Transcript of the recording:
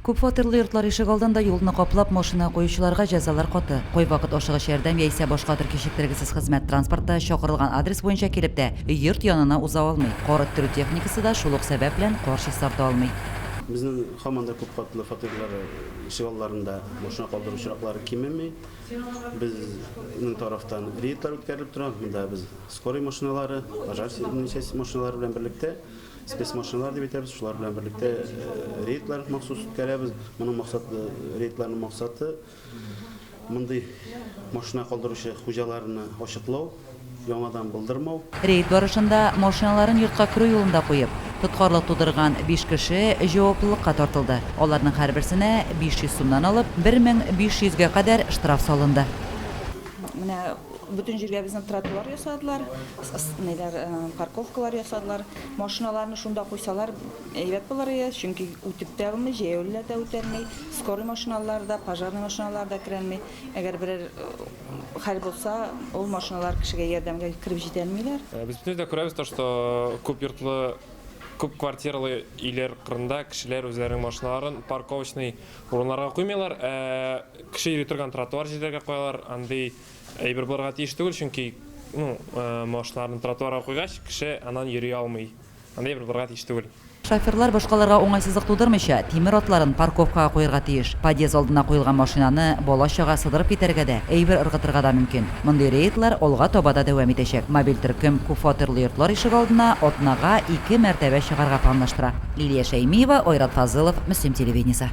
Күп фатирлы йортлар ишегалдында юлны каплап, машина куючыларга җәзалар каты. Кайвакыт ашыгыч ярдәм яисә башка төр кичектергесез хезмәт транспорты чакырылган адрес буенча килеп тә йорт янына уза алмый. Кар эттерү техникасы да шул ук сәбәп белән кар чистарта алмый. Безнең һаман да күп катлы фатирлар ишегалларында машина калдыру очраклары кимеми. Безнең тарафтан рейдлар үткәрелеп тора. Монда без скорый машиналары, пожарный часть машиналары белән берлектә Спецмашиналар дип әйтәбез, шулар белән берлектә рейдлар махсус үткәрәбез. Моның максаты, рейдларның максаты мондый машина калдыручы хуҗаларны ачыклау, яңадан булдырмау. Рейд барышында машиналарын йортка керү юлында куеп, тоткарлык тудырган биш кеше җаваплылыкка тартылды. Аларның һәрберсенә 500 сумнан алып 1500 гә кадәр штраф салынды. Менә Бөтен җиргә безнең тротуар ясадылар, ниләр, парковкалар ясадылар. Машиналарны шунда куйсалар, әйбәт булыр иде, чөнки үтеп тә алмый, җәяүлеләр дә үтә алмый, скорый машиналары да, пожарный машиналары да керә алмый. Әгәр берәр хәл булса, ул машиналар кешегә ярдәмгә кереп җитә алмыйлар. Без бөтенебез дә күрәбез, то что күп йортлы, күп квартиралы өйләр кырында кешеләр үзләренең машиналарын парковочный Урыннарга куймыйлар, ә кеше йөри торган тротуар җирләргә куялар. Андый әйбер булырга тиеш түгел, чөнки, ну, машиналарны тротуарга куйгач, кеше аннан йөри алмый. Андый әйбер булырга тиеш түгел. Шоферлар башкаларга уңайсызлык тудырмыйча, тимер атларын парковкага куярга тиеш. Подъезд алдына куелган машинаны бала-чага сыдырып китәргә дә, әйбер ыргытырга да мөмкин. Мондый рейдлар алга таба да дәвам итәчәк. Мобиль төркем күпфатирлы йортлар ишегалдына атнага ике мәртәбә чыгарга планлаштыра. Лилия Шәймиева, Айрат Фазылов, Мөслим телевидениесе.